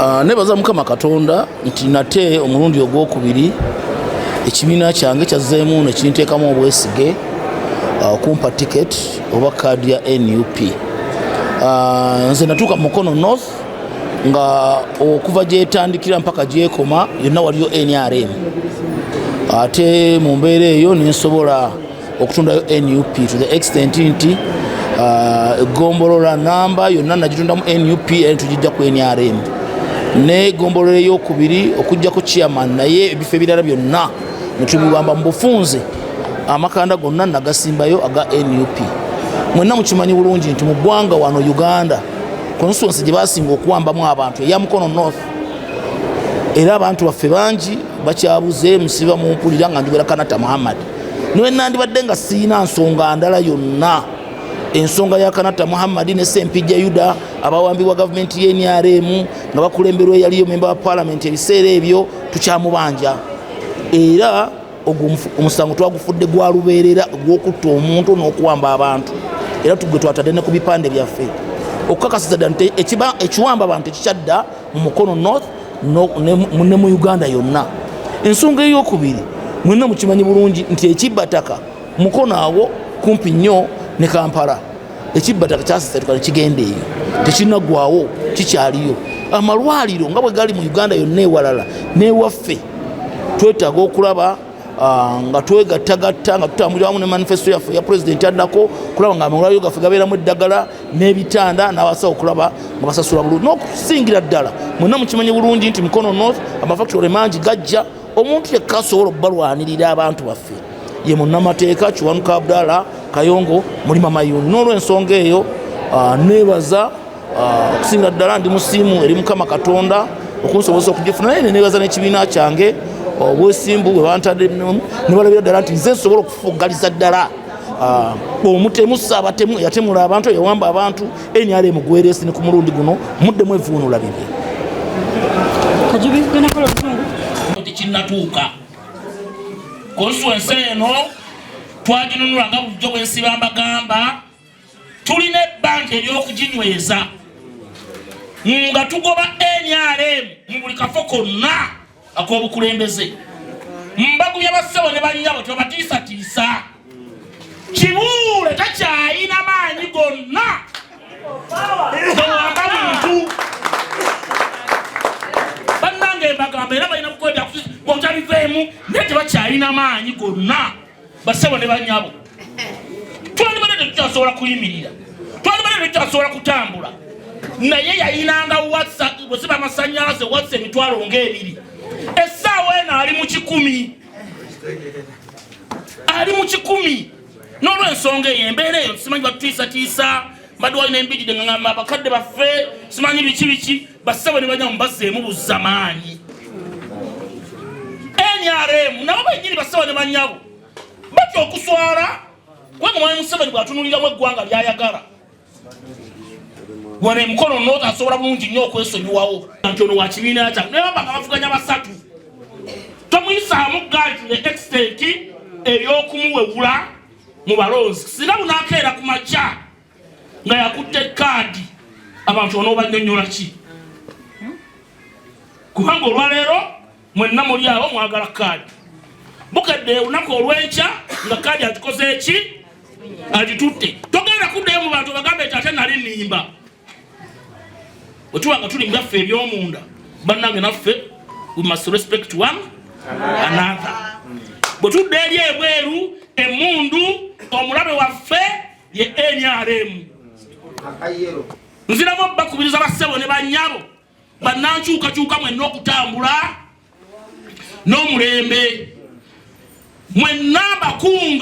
ah, nebaza mukama katonda nti nate omulundi ogwokubiri ekibiina kyange kyazzeemu nekinteekamu obwesige ah, okumpa ticket oba kaadi ya nup ah, nze natuuka mukono north nga okuva gyetandikira mpaka gyekoma yonna waliyo nrm ate mu mbeera eyo nensobola okutundayo nup to the extent nti uh, egombolola namba yonna nagitundamu nup en tugijja ku nrm ne gombolola eyokubiri okujjako chairman naye ebifo ebirala byonna netubibamba mu bufunze amakanda gonna nagasimbayo aga nup mwenna mukimanyi bulungi nti mu ggwanga wano uganda constituency gye basinga okuwambamu abantu eya mukono north era abantu baffe bangi bakyabuze musiba mumpulira nga njogera kanata muhammad niwenandibadde nga siyina nsonga ndala yonna ensonga ya kanatta muhammadi ne sempijja yuda abawambibwa gavumenti ye nrm nga bakulemberwa eyaliyo memba wa palamenti ebiseera ebyo tukyamubanja era ogwo omusango twagufudde gwa lubeerera gwokutta omuntu n'okuwamba abantu era tugwe twatadde ne ku bipande byaffe okukakasiza dda nti ekiwamba abantu tekikyadda mu mukono north ne mu uganda yonna ensonga eyokubiri mwena mukimanyi bulungi nti ekibbataka mukono awo kumpi nnyo ne kampala ekibbataka kyasasatuka nekigenda eyo tekinaggwawo kikyaliyo amalwaliro nga bwe gali mu uganda yonna ewalala newaffe twetaaga okulaba Ah, nga twegattagatta nga tutambulira wamu ne manifesto yaffe ya pulezidenti addako kulaba nga amalwaliro gaffe gabeeramu eddagala n'ebitanda n'abasawo okulaba nga basasula bulungi n'okusingira ddala mwenna mukimanyi bulungi nti mukono north amafactory mangi gajja omuntu yekka asobola okubalwanirira abantu baffe ye munnamateeka kiwanuka abdala kayongo mulima mayuni n'olwensonga eyo ah, nebaza Ah, okusinga ddala ndi musiimu eri mukama katonda okunsobozesa okugifuna naye nenebaza n'ekibiina kyange obwesimbu bwe bantadde ne balabira ddala nti nze nsobola okufuggaliza ddala ah, omutemu saabatemu yatemula abantu eyawamba abantu enyala emugweresi ne ku mulundi guno muddemu evuunula bibye kinnatuuka konsuwensi eno twaginunula nga bulijjo bwensiba mbagamba tulina ebbanja ery'okuginyweza nga tugoba nrm mu buli kafo konna ak'obukulembeze mbagumya bassebo ne bannyabo tebabatiisatiisa kibuule takyayina maanyi gonna ewanga muntu bannange mbagamba era balina kukwenda kutabiveemu naye tebakyalina maanyi gonna basebo ne banyabo twalibadde tetukyasobola kuyimirira twalibadde tetukyasobola kutambula naye yayinanga wasa bwesiba amasanyalaze wasa emitwalo ngaebiri essaawa eno ali mu kikumi ali mu kikumi n'olwensonga eyo embeera eyo tusimanyi batutiisatiisa madwali nembijide nga ngamba abakadde baffe simanyi biki biki bassebo ne bajja mubazeemu buzamaanyi nrm nabo benyini bassebo ne banyabo batya okuswala kubanga mwami museveni bwatunuliramu eggwanga lyayagala wano emikono not asobola bulungi nnyo okwesonyiwawo nti ono wakibiina kya naye baba nga bavuganya basatu tomuyisaamu gaati ne extenti ey'okumuwewula mu balonzi singa bunakeera ku makya nga yakutte kaadi abantu onoobanyonyola ki kubanga olwaleero mwenna muli awo mwagala kaadi bukedde olunaku olwenkya nga kaadi agikoze eki agitutte togenda kuddayo mu bantu bagambe nti ate nali nimba bwe tuba nga tuli mu byaffe eby'omunda bannange naffe we must respect one another bwe tudda eri ebweru emundu omulabe waffe ye nrm nziramu bakubiriza bassebo ne banyabo bannankyukakyuka mwenna okutambula n'omulembe mwenna abakunga